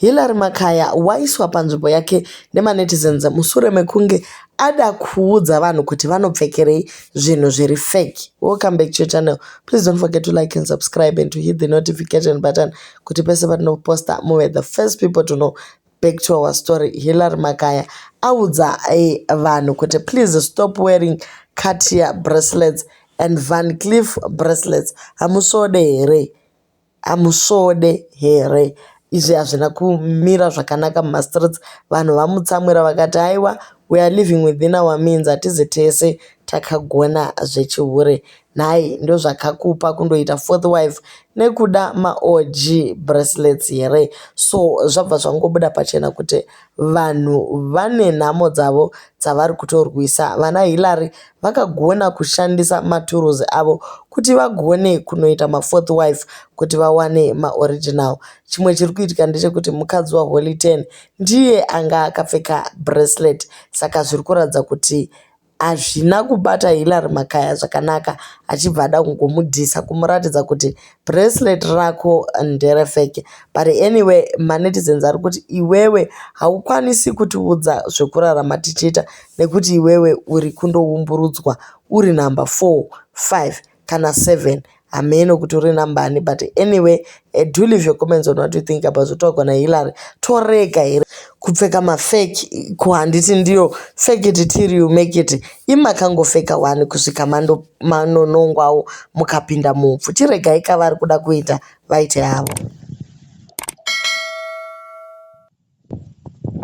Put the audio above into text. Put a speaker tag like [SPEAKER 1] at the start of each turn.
[SPEAKER 1] Hillary Makaya waiswa panzvimbo yake nemaNetizens musure mekunge ada kuudza vanhu kuti vanopfekerei zvinhu zviri fake. Welcome back to your channel. Please don't forget to like and subscribe and to hit the notification button kuti pese patinoposta muve the first people to know. Back to our story. Hillary Makaya audza eh, vanhu kuti please stop wearing Cartier bracelets and Van Cleef bracelets. Hamusode here? Hamusvode here izvi hazvina kumira zvakanaka muma streets vanhu vamutsamwira vakati haiwa we are living within our means hatizi tese takagona zvechihure nhai ndozvakakupa kundoita fourth wife nekuda maog bracelets here so zvabva zvangobuda pachena kuti Vanhu vane nhamo dzavo dzavari kutorwisa. Vana Hillary vakagona kushandisa maturuzi avo kuti vagone kunoita mafourth wife kuti vawane maoriginal. Chimwe chiri kuitika ndechekuti mukadzi waHoly Ten ndiye anga akapfeka bracelet saka zviri kuratidza kuti Hazvina kubata Hillary Makaya zvakanaka achibva ada kungomudhisa kumuratidza kuti bracelet rako ndere fake. But anyway manetizens ari kuti iwewe haukwanisi kutiudza zvekurarama tichiita nekuti iwewe uri kundoumburudzwa uri number 4, 5 kana seven hameno kuti uri number ani but anyway I do leave your comments on what you think about zvotogwa naHillary torega here kupfeka mafake ko handiti ndiyo fake it till you make it imakangofeka wani kusvika mando manonongwawo mukapinda mupfu chiregai ka vari kuda kuita vaite havo